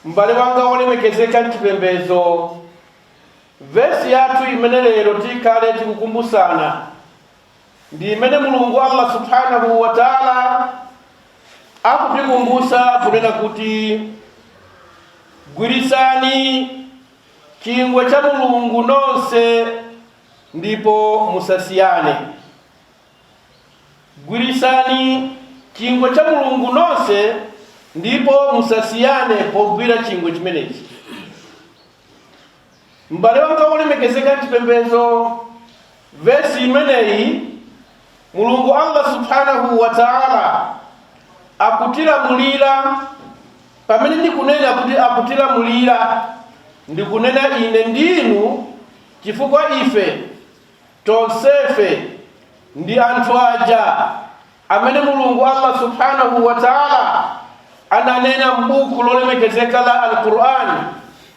M'bale wanga wolemekezeka m'chipembedzo, vesi yathu imene lero tikhale tikukumbutsana ndi imene Mulungu Allah subhanahu wa ta'ala akutikumbutsa kunena kuti gwiritsani chingwe cha Mulungu nonse ndipo musasiyane. Gwiritsani chingwe cha Mulungu nonse ndipo musasiyane pogwira chingwe chimenechi. M'bale wanga wolemekezeka m'chipembedzo, vesi imeneyi Mulungu Allah subhanahu wa ta'ala akutilamulira pamene ndikunena kuti akutilamulira ndikunena ine ndinu chifukwa ife Tonsefe ndi anthu aja amene Mulungu Allah Subhaanahu wa Ta'ala ananena m'buku lolemekezeka la Al-Qur'an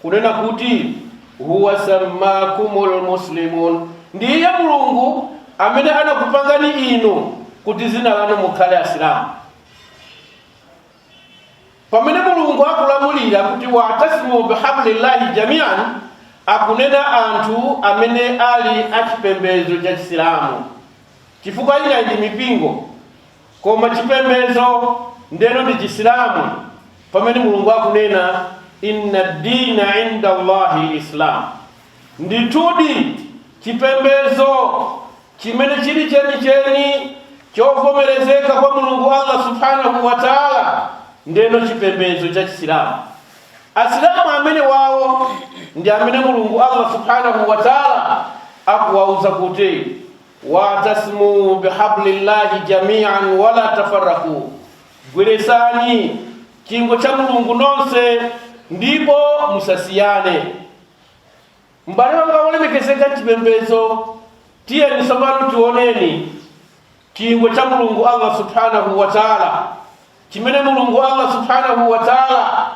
kunena kuti huwa sammakumul muslimun, ndi iye Mulungu amene anakupangani inu kuti dzina lanu mukhale Asilamu. pamene mulungu akulamulira kuti wa'tasimu bihablillahi jamian akunena anthu amene ali achipembedzo cha chisilamu chifukwa ina ndi mipingo koma chipembedzo ndeno ndi chisilamu pamene mulungu akunena inna dina indallahi islam Ndithudi, chipembedzo chimene chili chenicheni chovomerezeka kwa Mulungu Allah Subhaanahu wa Ta'ala ndeno chipembedzo cha Chisilamu. Asilamu amenewawo ndi amene Mulungu Allah Subhaanahu wa Ta'ala akuwauza kuti, Wa'tasimuu bihablillahi jamii'an wa laa tafarraquu, Gwiritsani chingwe cha Mulungu nonse ndipo musasiyane. M'bale wanga wolemekezeka m'chipembedzo, tiyeni tsopano tioneni chingwe cha Mulungu Allah subhanahu wa taala chimene Mulungu Allah subhanahu wa taala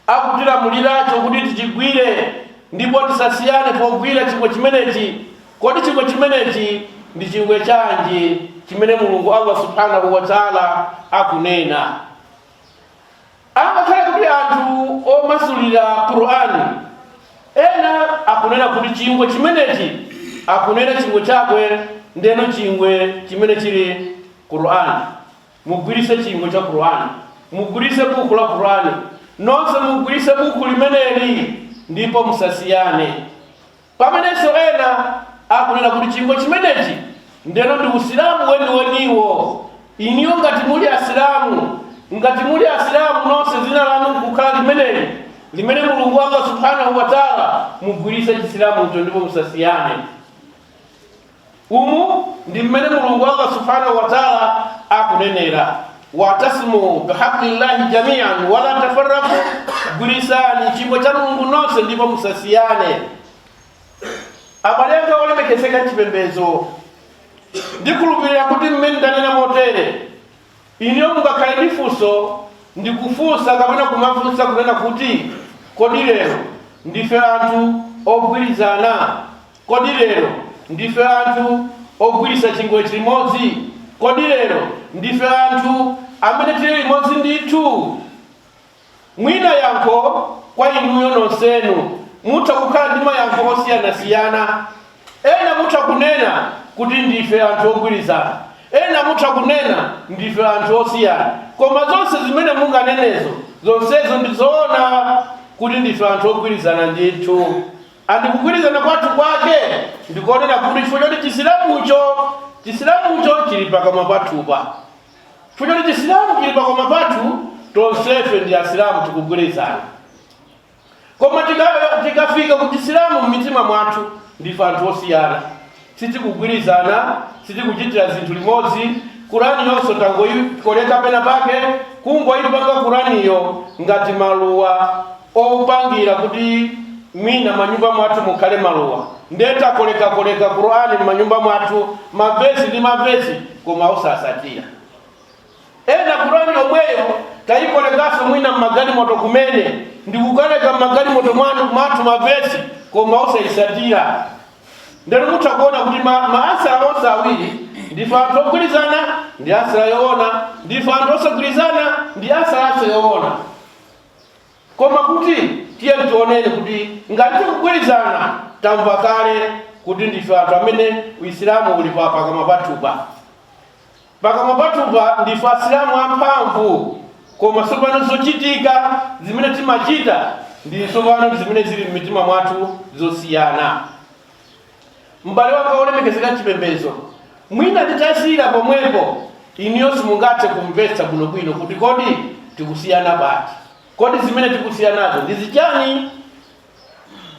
akutilamuliracho kuti tichigwire ndipo tisasiyane pogwira chingwe chimenechi. Kodi chingwe chimenechi ndi chingwe chanji chimene Mulungu Allah subhanahu wa taala akunena? angakhale kuti anthu omasulira qur'ani ena akunena kuti chingwe chimenechi akunena chingwe chakwe ndeno chingwe chimene chili qur'ani mugwiritse chingwe cha qur'ani mugwiritse buku la qur'ani nonse mugwiritse buku limeneli ndipo musasiyane Pamenenso ena akunena kuti chingwe chimenechi ndeno ndi usilamu weniweniwo. Inuyo ngati muli asilamu, ngati muli asilamu nonse dzina lanu kukhala limeneli, limene Mulungu Allah Subhaanah wa Ta'la mugwiritse chisilamucho ndipo musasiyane. Umu ndi mmene Mulungu Allah Subhanahu wa Ta'ala akunenera watasimu bihablillahi jamian wala tafarraku, gwiritsani chingwe cha Mulungu nonse ndipo musasiyane. Abale anga olemekezeka m'chipembedzo, ndikhulupirira kuti mmene ndanena motere, iniyo mungakhale ndi funso ndikufunsa kapena kumafunsa kunena kuti kodi lero ndife anthu ogwirizana? Kodi lero ndife anthu ogwiritsa chingwe chimodzi? Kodi lero ndife anthu amene tili limodzi ndithu? Mwina yankho kwa inuyo nonsenu mutha kukhala ndi mayankho osiyanasiyana. Ena mutha kunena kuti ndife anthu ogwirizana, ena mutha kunena ndife anthu osiyana. Koma zonse zimene munganenezo, zonsezo ndi zoona kuti ndife anthu ogwirizana ndithu. And kugwirizana kwathu kwake ndikonena kuti chifukwa choti chisilamu chisilamucho chili pakamwa pathupa chifukwa choti chisilamu chili pakamwa pathu tonsefe ndi asilamu tikugwirizana koma tikafika ku chisilamu m'mitima mwathu ndife anthu osiyana sitikugwirizana, sitikuchitira zinthu limodzi, Qurani yonse tangoikoleka pena pake, kungoipanga Quraniyo ngati maluwa opangira kuti mwina manyumba mwathu mukhale maluwa, nde takolekakoleka Qurani mmanyumba mwathu, mavesi ndi mavesi koma osatsatira. Ena Qur'an yomweyo taikolekanso mwina mmagalimoto kumene ndikukaleka mmagalimoto mwathu ma verse koma osaitsatira. Ndeno mutha kuona kuti ma answer onse awiri ndife anthu ogwirizana ndi answer yoona, ndife anthu osagwirizana ndi answernso yoona. Koma kuti tiye tioneni kuti ngati tikugwirizana tamva kale kuti ndife anthu amene uisilamu uli pa pakamwa pathupa. Pakamwa pathupa ndife Asilamu amphamvu, koma tsopano zochitika zimene timachita ndi tsopano zimene zili m'mitima mwathu zosiyana. M'bale wanga wolemekezeka m'chipembedzo, mwina nditasiyira pomwepo inuyo simungathe kumvetsa bwinobwino kuti kodi tikusiyana pati, kodi zimene tikusiyanazo ndi zichani?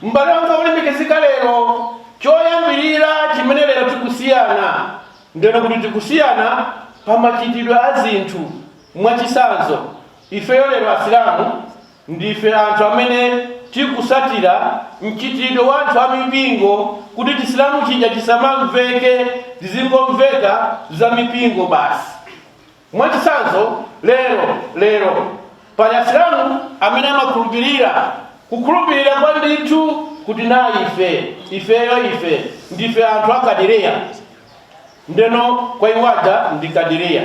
M'bale wanga wolemekezeka, lero, choyambirira chimene lero tikusiyana, ndeno kuti tikusiyana pa machitidwe a zinthu. Mwachitsanzo, ifeyo lero Asilamu ndife anthu amene tikusatira mchitidwe wa anthu a mipingo kuti Chisilamu chija chisamamveke, zizingomveka za mipingo basi. Mwachitsanzo, lero, lero, pali Asilamu amene amakhulupirira, kukhulupirira kwa ndithu kuti na ife, ifeyo, ife ndife anthu a Qadiria. Ndeno kwa iwo aja ndi Qadiria.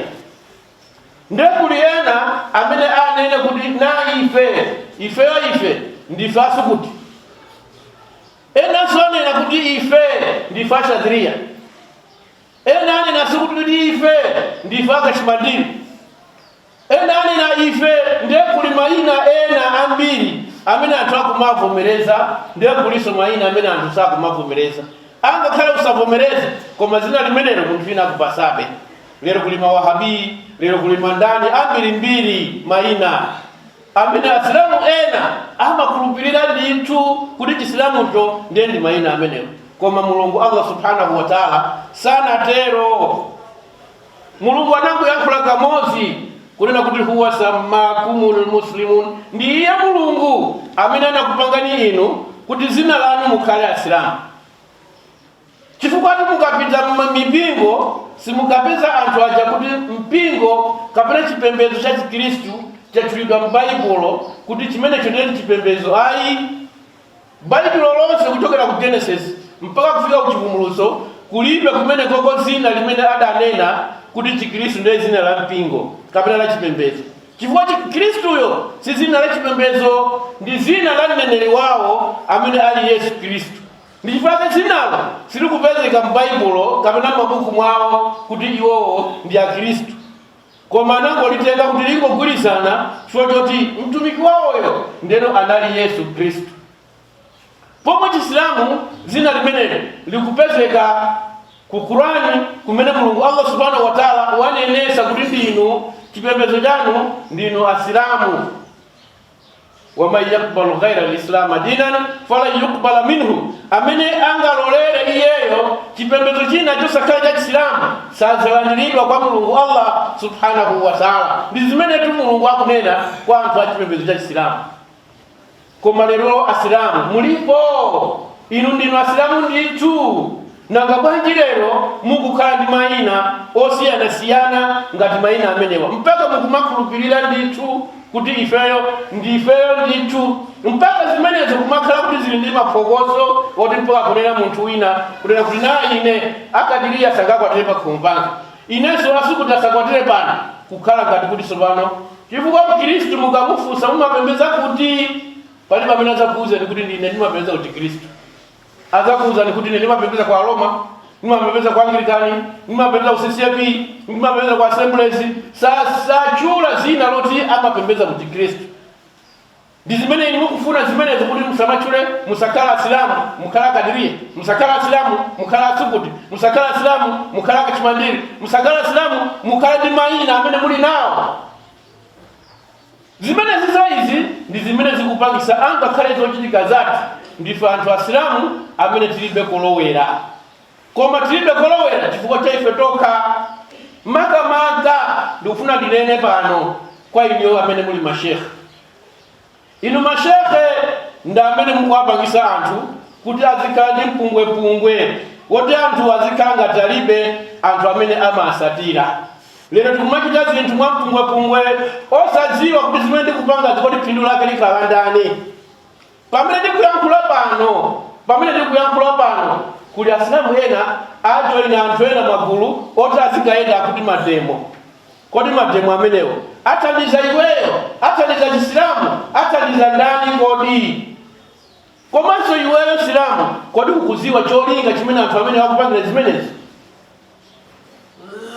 Nde kuli ena amene anene kuti na ife, ifeyo, ife ndife a Sukuti. Enanso onena kuti ife ndife a Shadhiriya. Ena anenanso kuti ife ndife a Kashimandiri? Ena anena, Ife ndiye kuli mayina ena ambiri amene anthu akumavomereza, ndiye kulinso mayina amene anthu sakumavomereza. Angakhale usavomereze, koma zina limenelo munthu wina akupasabe. Lero kuli Mawahabi, lero kuli Mandani, ambirimbiri mayina. amene Asilamu ena amakhulupirira ndithu kuti Chisilamucho ndiye ndi maina amenewo, koma Mulungu Allah Subhaanah wa Ta'la sanatero. Mulungu anangoyankhula kamozi kunena kuti huwa sammakumul muslimun, ndi iye Mulungu amene anakupangani inu kuti zina lanu mukhale Asilamu. Chifukwatu mukapita m'mipingo simukapeza anthu aja kuti mpingo kapena chipembedzo cha Chikristu chatchulidwa m'Baibulo kuti chimenecho ndiye chipembedzo, ayi. Baibulo lonse kuchokera ku Genesis mpaka kufika ku Chivumbulutso kulibe kumenekoko dzina limene adanena kuti Chikristu ndiye dzina la mpingo kapena la chipembedzo, chifukwa Chikristuyo si dzina la chipembedzo, ndi dzina la mneneri wawo amene ali Yesu Kristu. Ndi chifukwa chake zinalo silikupezeka m'Baibulo kapena m'mabuku mwawo kuti iwowo ndi Akhristu, koma anangolitenga kuti lingogwirizana chifukwa choti Mtumiki wawoyo ndiyeno anali Yesu Khristu. Pomwe Chisilamu zina limeneli likupezeka ku Quran kumene Mulungu Allah Subhana Watala wanenetsa kuti ndinu chipembedzo chanu ndinu Asilamu. wa man yakbalu ghaira lislama dinan falan yukbala minhu amene angalolere iyeyo chipembedzo china chosakhala cha chisilamu sadzalandiridwa kwa mulungu allah subhanahu wa taala ndi zimenetu mulungu akunena kwa anthu a chipembedzo cha chisilamu koma lero asilamu mulipo inu ndinu asilamu ndithu Nanga bwanji lero mukukhala ndi maina osiyanasiyana ngati maina amenewa, mpaka mukumakhulupilira ndithu kuti ifeyo ndifeyo ndithu, mpaka zimenezo kumakhala kuti zili ndi maphokoso oti mpaka kunena munthu wina kunena kuti naa ine a Kadiria sangakwatire pakhomo panga, inenso a Sukutu asakwatire pano, kukhala ngati kuti tsopano chifukwa mkhirisitu mukamufunsa mumapemphera kuti, palibe amene adzakuuzani kuti ndine ndimapembedza kuchikhirisitu. adzakuuzani kuti ine ndimapembedza kwa aroma ndimapembedza kwa anglikani ndimapembedza ku ccp ndimapembedza kwa assemblies Sa- satchula dzina loti amapembedza kuchikhristu ndi zimene inu mukufuna zimenezo kuti musamatchule musakhala asilamu mukhala akadiriya musakhala asilamu mukhala asukuti musakhala asilamu mukhala akachimandiri musakhala asilamu mukhala ndi mayina amene muli nawo zimenezi izi ndi zimene zikupangisa angakhale zochitika zathu ndife anthu asilamu amene tilibe kolowera koma tilibe kolowera chifukwa cha ife tokha makamaka ndikufuna ndinene pano kwa inuyo amene muli mashekhe Inu ma shekhe ndi amene mukuwapangisa anthu kuti azikhala ndi mpungwepungwe woti anthu azikhala ngati alibe anthu amene amawatsatira. Lero tikumachita zinthu mwa mpungwepungwe osadziwa kuti zimene tikupangazi kodi phindu lake likhala la ndani. Pamene tikuyankhula pano pamene tikuyankhula pano kuli asilamu ena ajoina anthu ena magulu oti azikayenda akuti mademo. Kodi mademo amenewo athandiza iweyo? Athandiza chisilamu? Athandiza ndani kodi? Komanso iweyo msilamu kodi ukuziwa cholinga chimene anthu amenewo akupangira zimenezi?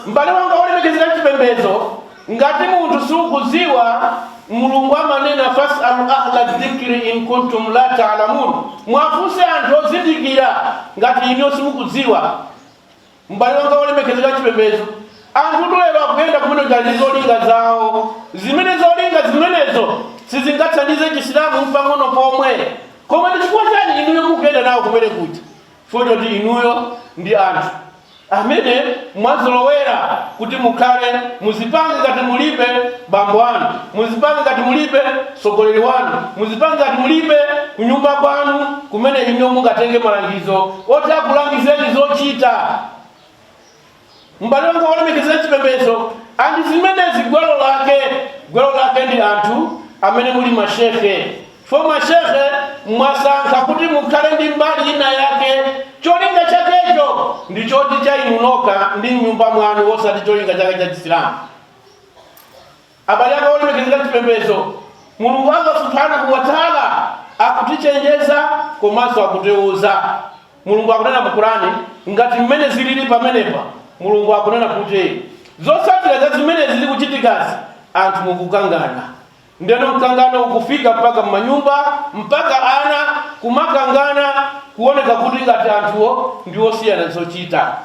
M'bale wanga wolemekezeka mchipembedzo, ngati munthu sukuziwa Mulungu amanena fasalu ahla dhikri in kuntum la ta'lamun, muwafunse anthu ozindikira ngati inuyo simukudziwa. M'bale wanga wolemekezeka wachipembedzo, anthutu lero akuyenda kumene kuja ndi zolinga zawo, zimene zolinga zimenezo sizingathandize Chisilamu mpang'ono pomwe. Koma ndi chifukwa chani inuyo mukuyenda nawo kumene kuja? Chifukwa choti inuyo ndi anthu amene mwazolowera kuti mukhale muzipange ngati mulibe bambo anu, muzipange ngati mulibe mtsogoleri wanu. Muzipange ngati mulibe kunyumba kwanu kumene inuyo mungatenge malangizo oti akulangizeni zochita. M'bale wanga wolemekezeka m'chipembedzo and zimenezi gwero lake, gwero lake ndi anthu amene muli ma shekhe. Fo ma shekhe mwasankha kuti mukhale ndi mbali ina yake, cholinga chakecho ndi choti cha inu nokha ndi m'nyumba mwanu osati cholinga chake cha Chisilamu. Abale anga olemekezeka m'chipembedzo, Mulungu Allah Subhaanahu wa Ta'ala akutichenjeza komanso akutiuza. Mulungu akunena mu Qur'an ngati mmene zilili pamenepa, Mulungu akunena kuti zotsatira za zimene zili kuchitikazi, anthu mukukangana ndeno mkangano ukufika mpaka m'manyumba mpaka ana kumakangana kuoneka kuti ngati anthuwo ndi osiyana zochita.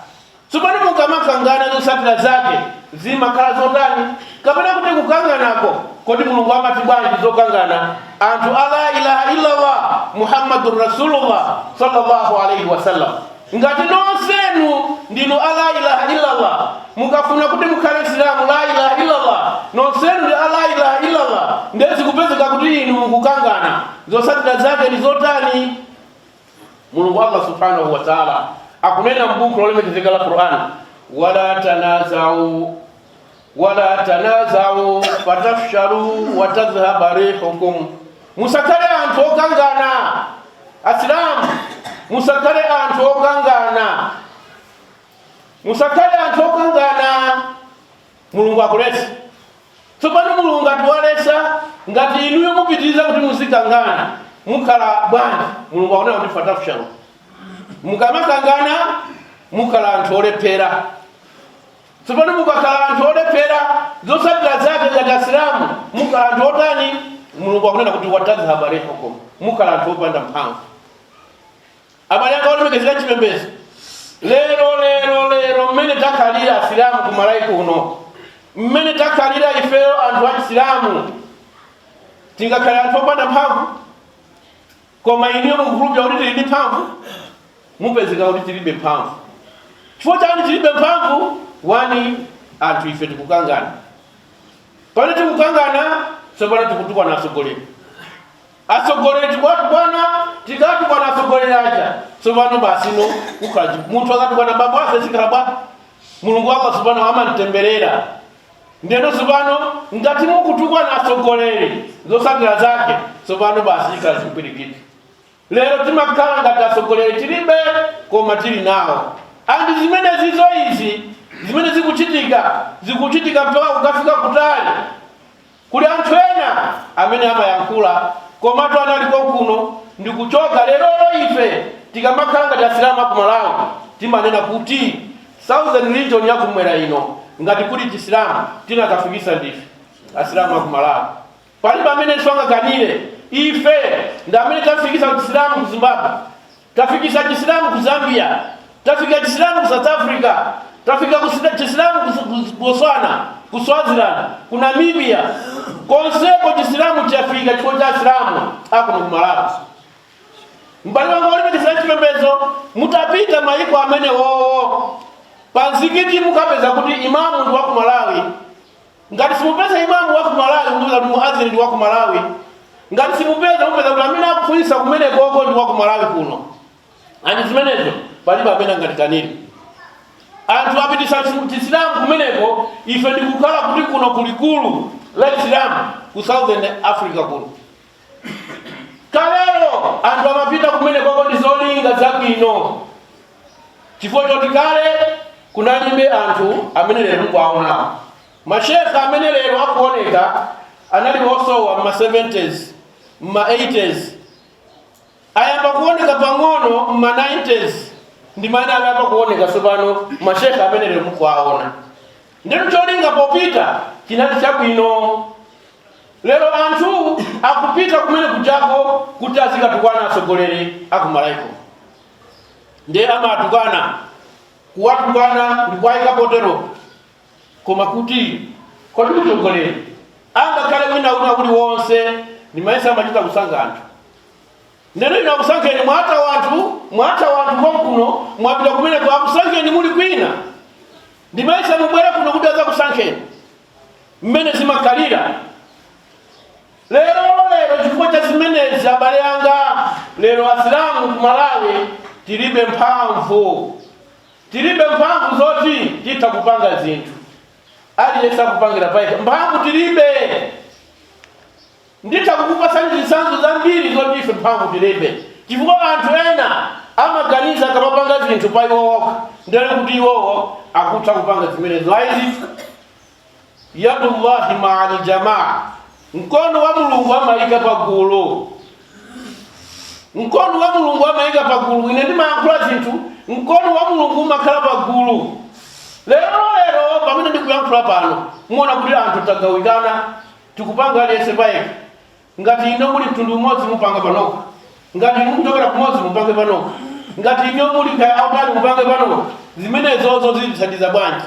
Tsopano, mukamakangana, zotsatira zake zimakhala zotani? Kapena kuti kukanganako, kodi Mulungu amati bwanji zokangana anthu a la ilaha illallah Muhammadun Rasulullah sallallahu alaihi wasallam? Ngati nonsenu ndinu a la ilaha illallah, mukafuna kuti mukhale Msilamu la ilaha illallah, nonsenu ndi a la ilaha illallah, ndiye zikupezeka kuti inu mukukangana, zotsatira zake ndi zotani? mulungu allah subhanahu wa taala akunena m'buku lolemekezeka la qur'an wala tanazau fatafshalu watadhhaba rihukum musakhale anthu okangana asilamu musakhale anthu okangana musakhale anthu okangana mulungu akuletsa tsopano mulungu ngati waletsa ngati inuyo mupitiriza kuti muzikangana mukhala bwanji mulungu akunena kuti fatafshalu mukamakangana mukhala anthu olephera tsopano mukakhala anthu olephera zotsatira zake ngati asilamu mukhala anthu otani mulungu akunena kuti watadhhaba rihukum mukhala anthu opanda mphamvu abale anga olemekezeka m'chipembedzo lero lero lero mmene takhalira asilamu ku malawi kuno mmene takhalira ifeyo anthu achisilamu tingakhale anthu opanda mphamvu koma inuyo mukhulupira kuti tili ndi mphamvu mupezeka kuti tilibe mphamvu chifukwa chani tilibe mphamvu wani anthu ife tikukangana pamene tikukangana tsopano tikutukwana atsogoleri Atsogoleri tikuwatukwana tikawatukwana atsogoleri aja tsopano basi no kukhala chi- munthu akatukwana bambo ake zikhala bwanji mulungu wako tsopano amamtemberera ndiyeno tsopano ngati mukutukwana atsogoleri zotsatira zake tsopano basi chikhala chipwirikiti lero timakhala ngati atsogoleri tilibe koma tili nawo andi zimene zizo izi zimene zikuchitika zikuchitika mpaka kukafika kutali Kuli anthu ena amene amayankhula komatu anali konkuno ndikuchoka lerolo ife tikamakhala ngati asilamu aku Malawi timanena kuti southern region ya kumwera ino ngati kuli chisilamu tinakafikitsa ndife asilamu aku Malawi palibe amenenso angakanire ife ndi amene tafikitsa chisilamu ku Zimbabwe Tafikisa chisilamu ku Zambia, tafika chisilamu ku South Africa, tafika chisilamu ku Botswana, ku Swaziland, ku Namibia, konseko chisilamu chafika chifukwa cha asilamu akuno ku Malawi. M'bale wanga olimbikitsa chipembedzo, mutapita mayiko amenewowo, pa mzikiti mukapeza kuti imamu ndi wa ku Malawi, ngati simupeza imamu wa kumalawi mupeza kuti muazini ndi wa kumalawi ngati simupeza mupeza kuti amene akufunisa kumenekoko ndi wa kumalawi kuno ndi zimenezo palibe amene angatikanize anthu apitisa chisilamu kumeneko ife ndikukhala kuti kuno kulikulu la Isilamu ku southern africa kuno Kalelo anthu amapita kumenekoko ndi zolinga zabwino, chifukwa choti kale kunalibe anthu amene lero mukuwaonawo. Mashekhe amene lero akuoneka anali osowa m'ma 70s, m'ma 80s, ayamba kuoneka pang'ono m'ma 90s, ndi mmene ayamba kuoneka tsopano mashekhe amene lero mukuwaona. Ndiyeno cholinga popita chinali chabwino. Lero anthu akupita kumene kujako kuti azikatukwana atsogoleri a ku Malawiko. Ndiye amawatukwana, kuwatukwana ndi kuwayika poteropo. Koma kuti kodi mtsogoleri angakhale wina wina uliwonse ndimayesa amachita kusankha anthu. Ndiyeno inu akusankheni mwathawa anthu, mwathawa anthu konkuno, mwapita kumeneko akusankheni muli kwina. Ndimayesa mubwere kuno kuti azakusankheni mmene zimakhalira lero lero chifukwa cha zimenezi abale anga lero asilamu ku malawi tilibe mphamvu tilibe mphamvu zoti titha kupanga zinthu aliyense akupangira payekha mphamvu tilibe Nditha kukupatsani zitsanzo zambiri zoti ife mphamvu tilibe chifukwa anthu ena amaganiza akamapanga zinthu pa iwo okha ndiye kuti iwowo akutha kupanga zimenezo. Ayi ndithu, yadullahi maa aljamaa, mkono wa Mulungu amayika pa gulu, mkono wa Mulungu amayika pa gulu. Ine ndimayankhula zinthu, mkono wa Mulungu umakhala pa gulu. Lero lero pamene ndikuyankhula pano, muona kuti anthu tagawikana tikupanga aliyense payekha. Ngati inu muli mtundu umodzi, mupanga panokha. Ngati inu mukuchokera kumodzi, mupange panokha. Ngati inu muli kaya autali, mupange panokha. Zimenezozo zitithandiza bwanji?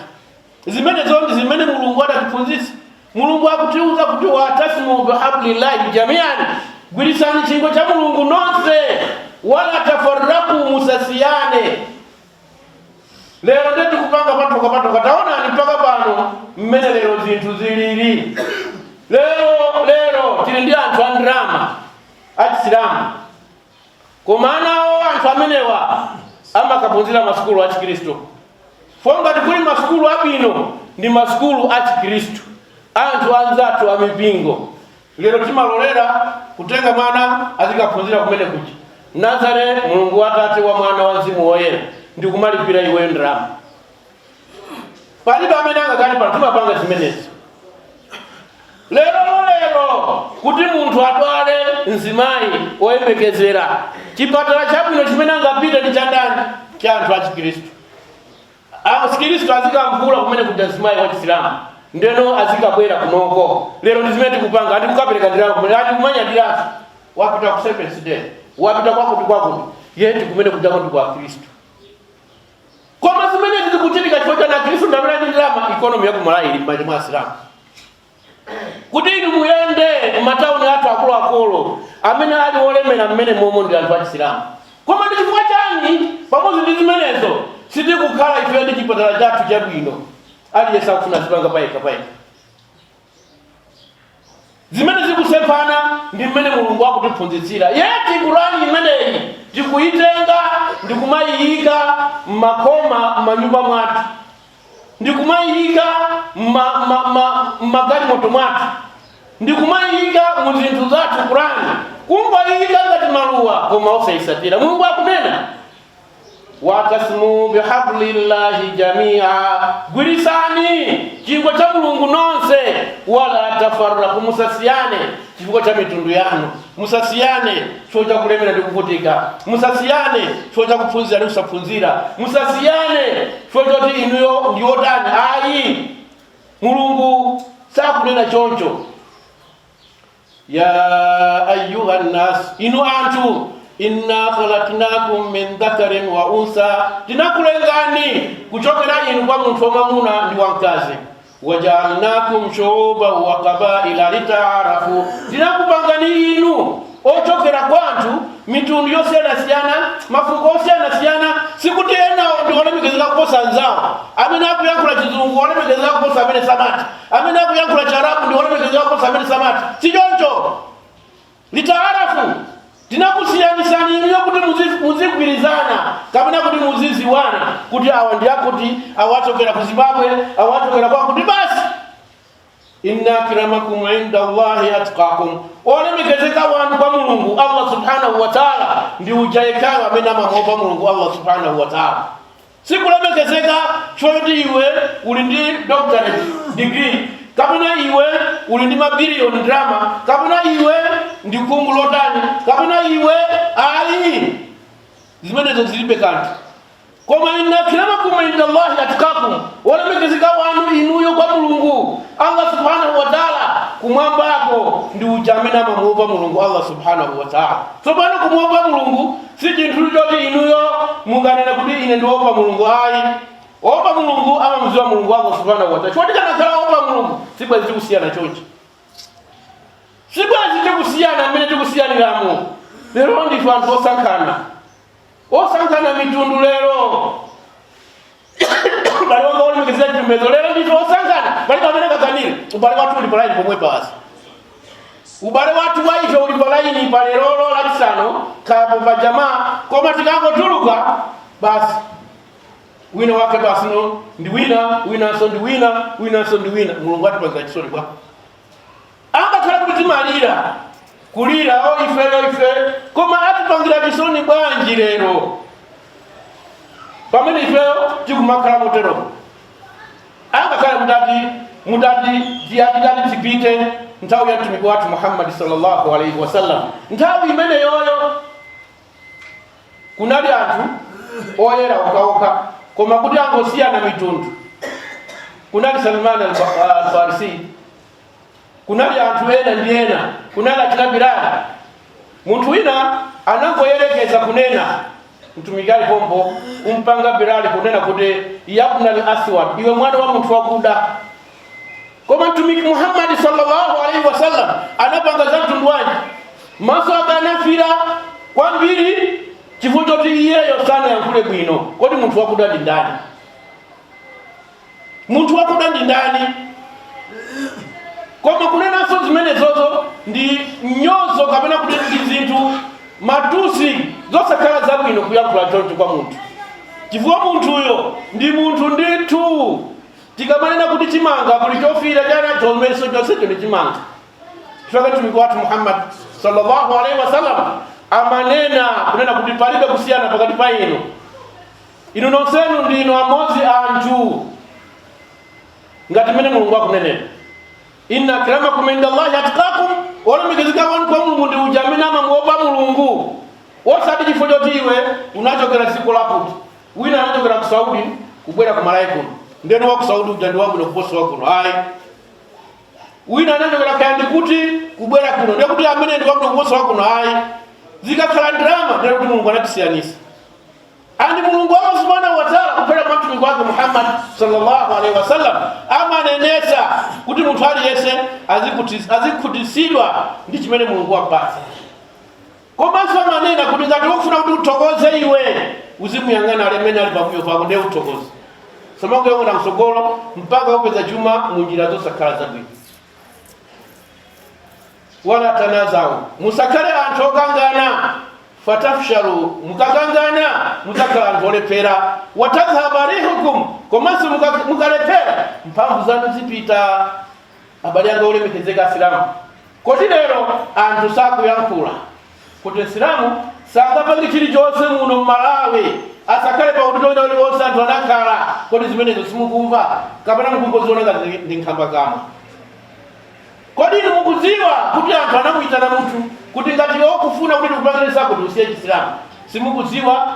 Zimenezo ndi zimene Mulungu adatiphunzitsa. Mulungu akutiuza kuti watasimu bihablillahi jamiani, gwiritsani chingwe cha Mulungu nonse, wala tafarraku, musasiyane. lero nde tikupanga patuka patuka taonani mpaka pano mmene lero zinthu zilili lero lero tili ndi anthu a ndalama achisilamu koma anawo anthu amenewa amakaphunzira masukulu achikristu for ngati kuli masukulu abwino ndi masukulu achikristu anthu anzathu amipingo Lero timalolera kutenga mwana azikaphunzira kumene kuja nazare mulungu wa atate wa mwana wa mzimu woyera ndikumalipira iwe ndalama palibe amene angakane pano timapanga zimenezi lero lerolo kuti munthu adwale mzimayi woyembekezera chipatala chabwino chimene angapite ndi chandani cha anthu achikristu Achikristu azikamvula kumene kuja mzimayi wa chisilamu ndeno azikabwera kunoko lero ndi zimene tikupanga ati kukapereka ndalama kumene ati kumanyadiratu wapita ku seventh day wapita kwakuti kwakuti yeti kumene kujako ndi kwa akristu koma zimene zikuchitika chifukwa chani akristu ndamene ndi ndalama ikonomi ya kumalawi ili m'manja mwa asilamu kuti inu muyende mu matauni athu akuluakulu amene ali olemera mmene momo ndi anthu achisilamu koma ndi chifukwa chani pamodzi ndi zimenezo sitikukhala ife ndi chipatala chathu chabwino aliyense akufuna zipanga payekha payekha zimene zikusemphana ndi mmene mulungu akutiphunzitsira yeti kurani imeneyi tikuyitenga ndi kumayiyika m'makoma a manyumba mwathu ndikumayiyika mmagalimoto mwathu ndikumayiyika mu zinthu zathu kurani kumayiyika ngati maluwa koma osayitsatira mulungu akunena watasimu bihablillahi jamia gwiritsani chingwe cha mulungu nonse wala tafarraku musasiyane chifukwa cha mitundu yanu musasiyane chifukwa cha kulemera ndi kuvutika musasiyane chifukwa cha kuphunzira ndi kusaphunzira musasiyane chifukwa choti inuyo ndi otani ayi mulungu sakunena choncho ya ayuha nnas inu anthu inna khalaknakum min dhakarin wa unsa tinakulengani kuchokera inu kwa munthu wamwamuna ndi wamkazi wajaalnakum shuuban wa qabaila litaarafu, tinakupangani inu ochokera kwa anthu mitundu yosiyanasiyana mafuko osiyanasiyana sikuti ena ndi olemekezeka kuposa anzawo amene akuyankhula chizungu olemekezeka kuposa amene samatha amene akuyankhula charabu ndi olemekezeka kuposa amene samatha si choncho litaarafu, tinakusiyanitsani inuyo kuti muzi- muzigwirizana kapena kuti muziziwana kuti awa ndi akuti awa achokera ku zimbabwe awa achokera kwakuti basi inna akramakum inda allahi atqakum olemekezeka wanu kwa mulungu allah subhanahu wa taala ndi uja yekhayo amene amamuopa mulungu allah subhanahu wa taala Sikulemekezeka choti iwe uli ndi doctorate degree, kapena iwe uli ndi mabiliyoni ndalama, kapena iwe ndi khungu lotani, kapena iwe ayi. Zimenezo zilibe kanthu. Koma inna akramakum indallahi atqakum, wolemekezeka wanu inuyo kwa Mulungu Allah subhanahu wa taala kumwambako ndi uja amene amamuopa Mulungu Allah subhanahu wa taala. Tsopano kumuopa Mulungu Si chinthu choti inuyo munganene kuti ine ndiopa Mulungu ayi. Opa Mulungu amamudziwa Mulungu Allah subhanahu wa ta'ala. Choti tikanakhala opa Mulungu sibwezi tikusiyana chonchi. Sibwezi tikusiyana mmene tikusiyaniramo. Lero ndife anthu osankhana. Osankhana mitundu lero. abale anga olemekezeka chipembedzo lero ndife osankhana pali pamene pakakamira ubale wathu uli palaini pomwe basi ubale wathu wa ife uli palaini pa lerolo lachisanu kapena pa jamaa koma tikangotuluka basi wina wake basi no ndi wina winanso ndi wina winanso ndi wina mulungu atipangira chisoni bwa Angakhale kuti timalira, kulira, o, ifeyo, ife, koma atipangira chisoni bwanji lero pamene ifeyo tikumakhala moteromo. Angakhale mutati mutati titati tipite nthawi ya mtumiki wathu Muhammad sallallahu alaihi wasallam, nthawi imeneyoyo kunali anthu oyera okhaokha koma kuti angosiyana mitundu kunali Salman al-Farisi kunali anthu ena ndi ena kunali achina bilali munthu wina anangoyerekeza kunena mtumiki ali pompo kumpanga bilali kunena kuti yabnal aswad iwe mwana wa munthu wakuda koma mtumiki muhammadi sallallahu alaihi wasallam anapanga za mtundu wanji maso ake anafira kwambiri chifukwa choti iyeyo sanayankhule bwino kodi munthu wakuda ndi ndani munthu wakuda ndi ndani koma kunenanso zimenezozo ndi mnyozo kapena kuti ndi zinthu matusi zosakhala zabwino kuyankhula choncho kwa munthu chifukwa munthuyo ndi munthu ndithu tikamanena kuti chimanga kuli chofira chani chomwecho chonsecho ndi chimanga chifukwa mtumiki wathu muhammad sallallahu alaihi wasallam amanena kunena kuti palibe kusiyana pakati pa inu inu nonsenu ndinu amodzi anthu ngati mmene mulungu akunenera inna akramakum inda llahi atkakum olemekezeka wanu kwa mulungu ndi uja amene amamuopa mulungu osati chifukwa choti iwe unachokera dziko lakuti wina anachokera ku saudi kubwera ku malawi kuno nde kuti wa ku saudi uja ndi wabwino kuposa wa kuno ayi wina anachokera kaya ndi kuti kubwera kuno ndiye kuti amene ndi wabwino kuposa wa kuno ayi zikakhala ndalama ndiye kuti mulungu anatisiyanisa And Mulungu Allah subhanahu wa ta'ala kupera mwa mtumiki wake Muhammad sallallahu alaihi wasallam amanenesa kuti munthu aliyense azikuti- azikhutitsidwa ndi chimene Mulungu wapatsa. Komanso amanena kuti ngati ukufuna kuti uthokoze iwe uzimuyang'ana amene ali pambuyo pako ndiye uthokoze. Osamangoyang'ana msogolo mpaka upeza chuma mu njira zosakhala zabwino. wala tanazawu musakhale anthu okangana fatafshalu mukakangana mudzakhala anthu olephera watadhhaba rihukum komanso muka- mukalephera mphamvu zanu zipita abale anga olemekezeka asilamu kodi lero anthu sakuyankhula kuti msilamu sangapange chilichonse muno mmalawi asakhale pa udindo wina uliwonse anthu anakhala kodi zimenezo simukumva kapena mukungoziona ngati ndi nkhambakamwa Kodi inu mukudziwa kuti anthu anamuyitana munthu kuti ngati iwe ukufuna kuti ndikupangire zakuti usiye chisilamu? Simukudziwa?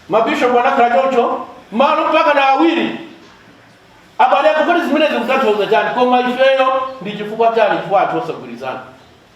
Mabishopu anakhala choncho malo mpaka na awiri. Abale anga, kodi zimenezi zikutanthauza chani? Koma ifeyo ndi chifukwa chani? Chifukwa anthu osagwirizana.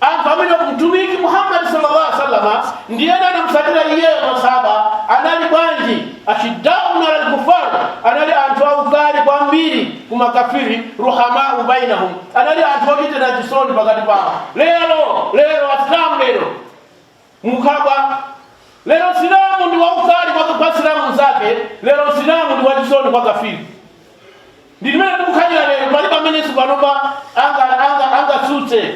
Anthu amene Mtumiki Muhammad salla Allah alaih wasallam ndi ena anamutsatira iyeyo maSahaba anali bwanji? Ashiddau alal kuffar, anali anthu aukali kwambiri ku makafiri, ruhamaau bainahum, anali anthu ochitirana chisoni pakati pawo. Lero, lero, Asilamu lero. Mukabwa. Lero Msilamu ndi waukali kwa kwa Msilamu mnzake, lero Msilamu ndi wachisoni kwa kafiri. Ndi mmene tikukhalira lero, palibe amenenso panopa anga angatsutse.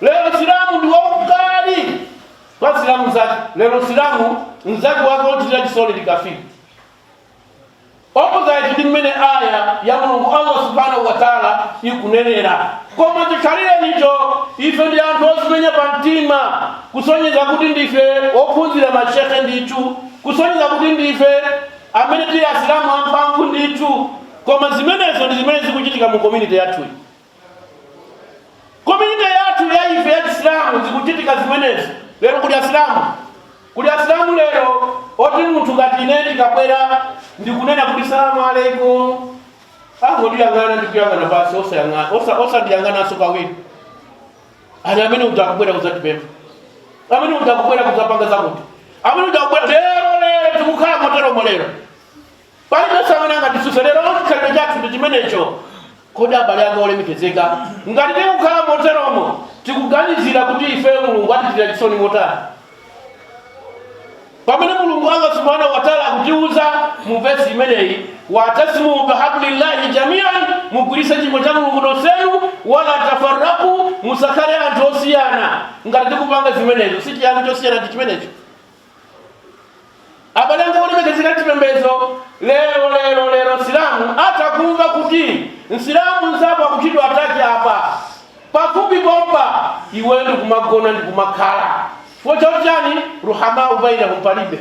Lero Msilamu ndi waukali kwa Msilamu mnzake, lero Msilamu mnzake wake wochitira chisoni ndi kafiri. opposite ndi mmene aya ya mulungu allah subhanahu wataala ikunenera koma chikhalirecho ife ndi anthu ozimenya pa mtima kusonyeza kuti ndife ophunzira mashekhe ndithu kusonyeza kuti ndife amene tili asilamu amphamvu ndithu koma zimenezo ndi zimene zikuchitika mu community yathuyi Komyuniti yathu ya ife ya Chisilamu zikuchitika zimenezi lero. Kuli Asilamu kuli Asilamu lero oti munthu ngati ine ndikabwera ndikunena kuti salamu alaikum angondiyang'ana ndikuyang'ana basi osayang'ana osa- osandiyang'ananso kawiri ali amene utakubwera kuzatipempha amene utakubwera kuzapanga zakuti amene utakubwera lero lero tikukhala moteromo lero palibenso amene angatitsutsa lero chikhalidwe chathu ndi chimenecho kodi abale anga olemekezeka ngati tikukhala moteromo tikuganizira kuti ifeyo mulungu atichitira chisoni motani pamene mulungu allah subhanahu wataala akutiuza mu vesi imeneyi watasimu bihablillahi jamian mugwiritse chingwe cha mulungu nonsenu wala tafaraku musakhale anthu osiyana ngati tikupanga zimenezo si chiyani chosiyana ndi chimenecho abale anga olemekezeka chipembedzo lero lero lero msilamu atakumva kuti msilamu mzawo akuchitidwa ataki apa pafupi pompa iwe ndikumagona ndikumakhala chifukwa chakuti chani ruhamau bainahum palibe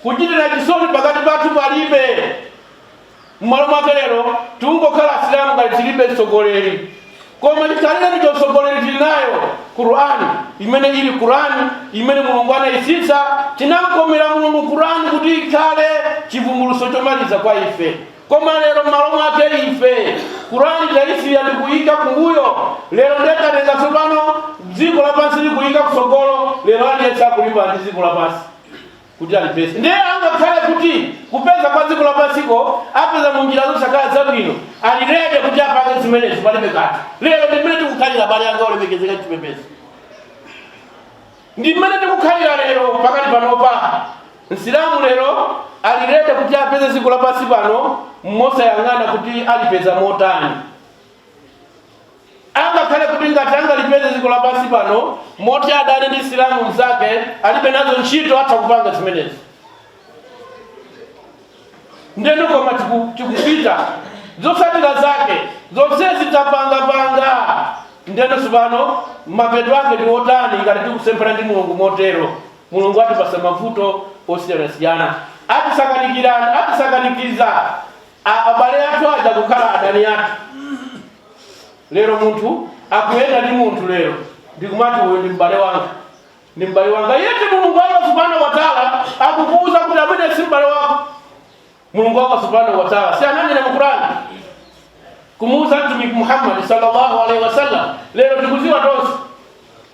kuchitira chisoni pakati pathu palibe Mmalo mwake lero tikungokhala asilamu ngati tilibe mtsogoleri koma chikhalirenicho mtsogoleri tili nayo qurani imene ili qurani imene mulungu anayitsitsa chinamkomera mulungu qurani kuti ikhale chivumbuluso chomaliza kwa ife koma lero mmalo mwake ife qurani tayisiya ndikuyika kumbuyo lero nde tatenga tsopano dziko lapansi ndikuyika kutsogolo lero aliyense akulimbana ndi dziko lapansi kuti alipeze ndiye angakhale kuti kupeza kwa dziko lapansiko apeza mu njira zosakhala zabwino ali rede kuti apange zimenezo palibe kanthu lero ndi mmene tikukhalira abale anga olemekezeka chipembedzo ndi mmene tikukhalira lero pakati panopa msilamu lero ali rede kuti apeze dziko lapansi pano mosayang'ana kuti alipeza motani Angakhale kuti ngati angalipeze dziko lapansi pano moti adane ndi Msilamu mnzake alibe nazo ntchito atha kupanga zimenezi. Ndeno koma tiku, tikupita zotsatira zake zonse zitapangapanga ndeno tsopano mapeto ake ndi otani ngati tikusemphana ndi Mulungu motero? Mulungu atipasa mavuto osiyanasiyana, atisakanikirana, atisakanikiza a- abale athu aja kukhala adani athu. lero munthu akuyenda ndi munthu lero ndikumati uyu ndi m'bale wanga ndi m'bale wanga yeti mulungu allah subhanahu wa taala akukuuza kuti amene si m'bale wako mulungu allah subhanahu wa taala si ananena mu qurani kumuuza mtumiki muhammadi sallallahu alaihi wasallam lero tikuziwa tonse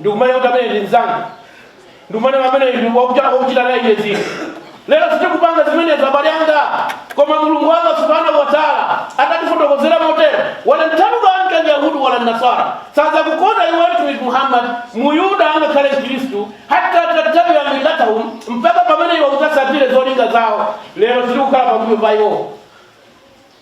ndikumane kuti amene ndi mzanga ndikumane amene ndi wakuchita wakuchita naye iye zinthu lero sitikupanga zimenezo abale anga koma mulungu wanga subhanahu wa taala adatifotokozera motero walan tardha ankal yahudu walan nasara sadzakukonda iwe mtumiki muhammad muyuda angakhale mkhristu hatta tattabia millatahum mpaka pamene iwe udzatsatire zolinga zawo lero sitikukhala pambuyo pa iwowo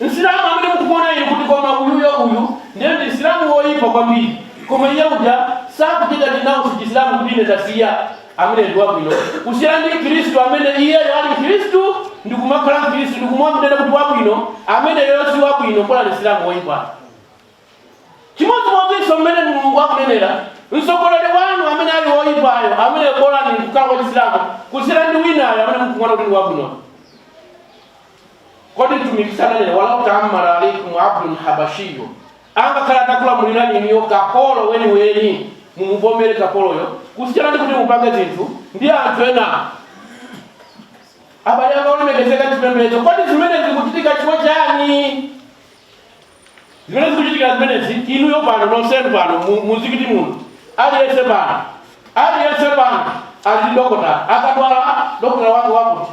msilamu amene mukuona inu kuti koma uyuyo uyu ndiye ndi msilamu woyipa kwambiri koma iye uja sakuchita dinawo sichisilamu ku dini tasiya amene ndi wabwino kusiyana ndi mkhristu amene iyeyo ali mkhristu ndi kumakhala mkhristu ndi kumamunena kuti wabwino ameneyo si wabwino bola ndi msilamu woyipa chimodzimodzinso mmene mulungu akunenera mtsogoleri wanu amene ali woyipayo amene bolani kukhala wachisilamu kusiyana ndi winayo amene mukuona kuti ndi wabwino Kodi Mtumiki sananene, Walau ta'ammara alaikum abdun habashiyyun, angakhale atakulamulirani inuyo kapolo weniweni, mumuvomere kapoloyo kusiyana ndi kuti mupange zinthu ndi anthu ena. Abale anga olemekezeka m'chipembedzo, kodi zimenezi zikuchitika chifukwa chani? Zimene zikuchitika zimenezi, inuyo pano, nonsenu pano, mu- muzikiti muno, aliyense pano, aliyense pano ali ndi dokotala. Akadwala dokotala wake wakuti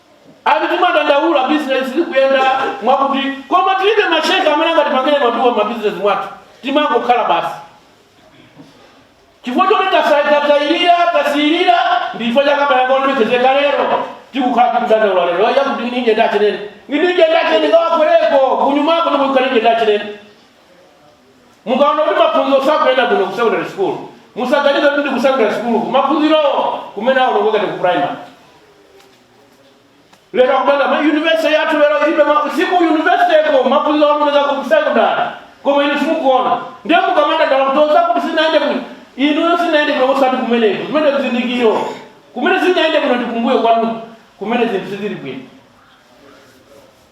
Ati timadandaula business sikuyenda mwakuti koma tilibe mashehe amene angatipangire maduwa ma business mwathu timangokhala basi chifukwa choti tasayikatayirira tasiyirira ndi chifukwa cha chani abale anga olemekezeka lero tikukhala tikudandaula lero yakuti nginijenda achimwene nginijenda achimwene ngawa kweleko kunyumako ndiko nginijenda achimwene mukaona kuti maphunziro sakuyenda kuno ku secondary school musaganize kuti ndi ku secondary school maphunziro kumene aonongeka ndi ku primary lero akudanda ma university yathu lero ilibe ma- siku university ko maphunziro aonongeka ku sekondale koma inu simukuona ndiye mukamadandaula kuloza kuti sizinayende kuno inu sizinayende kuno osati kumeneko kumene kuzindikiro kumene sizinayende kuno ndikumbuyo kwanu kumene zinthu sizili bwino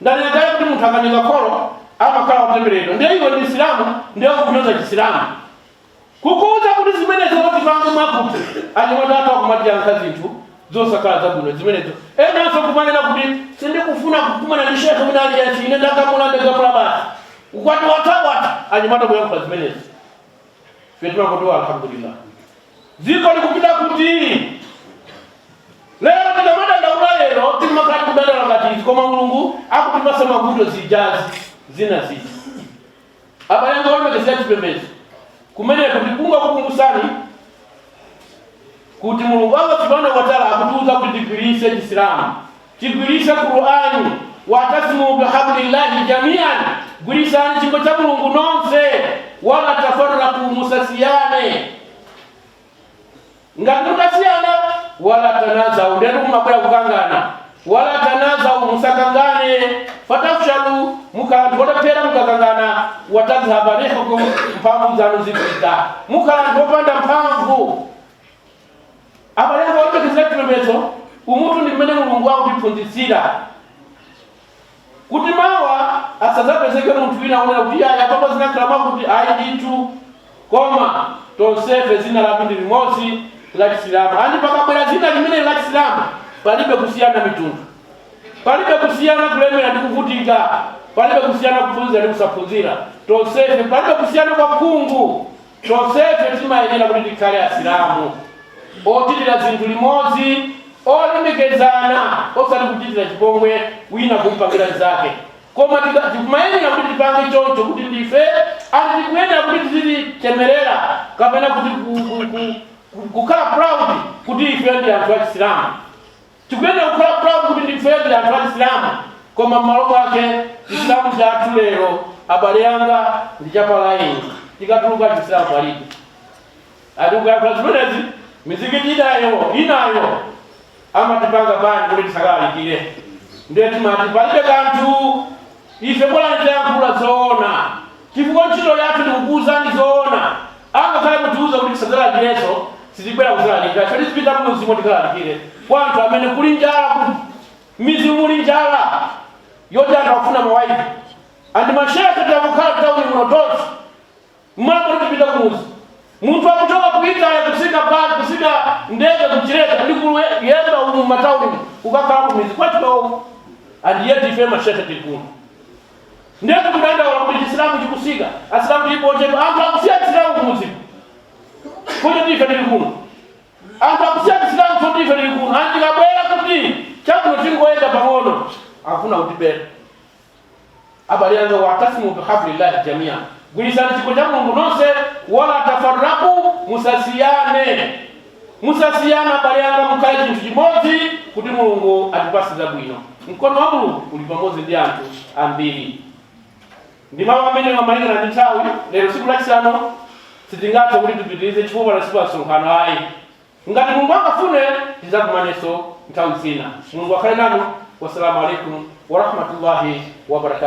Ndanena kale kuti munthu akanyoza kholo amakhala wotembereredwa. Ndiye iwe ndi Msilamu ndiye ukunyoza Chisilamu. Kukuuza kuti zimenezo uzipange mwakuti, anyamata athu akumatiyankha zinthu zosakhala zabwino zimenezo. Enanso nkumanena kuti, Sindikufuna kukumana ndi Sheikh wina aliyense, ine ndagamula ndagamula basi. Ukwati watha watha anyamata kuyankhula zimenezo. ife timakondwa alhamdulillah dziko likupita kuti lero tikamadandaula lero timakhala tikudandaula ngati izi koma mulungu akutipatsa mavuto zijazi zinazi abale anga olemekezeka m'chipembedzo kumeneko tikufuna kukumbusani kuti mulungu wanga subhanahu wataala akutiuza kuti tigwiritse chisilamu Tigwiritse Qur'ani, Wa'tasimu bihablillahi jamii'an, Gwiritsani chingwe cha Mulungu nonse, wala tafarraqu, musasiyane. Ngati mukasiyana, wala tanazau, ndiyetu kumabwera kukangana. Wala tanazau, musakangane. Fatafshalu, mukhala anthu olephera mukakangana. Watazhaba rihukum, mphamvu zanu zipita, mukhala anthu opanda mphamvu. abale anga olemekezeka chipembedzo umutu ndi mmene mulungu akutiphunzitsira kuti mawa asadzapezeke munthu wina wonena kuti ayi apapa zinakhala mwakuti ayi ndithu koma tonsefe dzina lathu ndi limodzi la chisilamu andi pakabwera dzina limeneli la chisilamu palibe kusiyana mitundu palibe kusiyana kulemera ndi kuvutika palibe kusiyana kuphunzira ndi kusaphunzira tonsefe palibe kusiyana kwa khungu Tonsefe timayenera kuti tikhale Asilamu ochitira zinthu limodzi, olemekezana, osati kuchitirana chipongwe wina kumpangira mzake. Koma tika, tikumayenera kuti tipange choncho kuti ndife and tikuyenera kuti tizichemerera kapena kuti ku, ku, ku, ku, kukhala proud kuti ife ndi anthu a Chisilamu. Tikuyenera kukhala proud kuti ndifedi anthu a chisilamu koma mmalo mwake chisilamu chathu lero abale anga ndi cha pa line tikatuluka chisilamu palibe ati tikayankhula zimenezi mizikiti inayo inayo amatipanga bani kuti tisakalalikire ndiye timati palibe kanthu Ife bolani tayankhula zoona chifukwa ntchito yathu ndikukuuzani zoona angakhale mutiuza kuti tisadzalalikirenso sitibwera kudzalalikira koma tizipita mmudzimo tikalalikire kwa anthu amene kuli njala ku mmidzi muli njala yoti anthu akufuna ma waizi andi ma shehe tangokhala mtauni muno tonse Mwapoti tipita kumudzi munthu akuchoka ku Italy kutsika bus kutsika ndege kuchileka ndi kuyenda umu mmatauni umu kukakhala kumidzi kwathu komwe and yet ife ma shehe tili kuno ndiye tikudandaula kuti chisilamu chikutsika asilamu tilipo ochepa anthu akusiya chisilamu kumudziku kuti ife tili kuno anthu akusiya chisilamu kuti ife tili kuno and tikabwera kuti chabwino tingoyenda pang'ono akufuna kutibera abale anga watasimu bihablillahi jamia gwiritsani chingwe cha mulungu nonse wala tafarraku musasiyane musasiyane abale anga mukhale chinthu chimodzi kuti mulungu atipatse zabwino mkono wa mulungu uli pamodzi ndi anthu ambiri ndi mawu amene amalingana ndi nthawi lero tsiku lachisanu sitingathe kuti tipitirize chifukwa la tsiku la msonkhano ayi Ngati Mulungu angafune tidzakumananso nthawi zina. Mulungu akhale nanu. Wassalamu alaikum warahmatullahi wabarakatuh.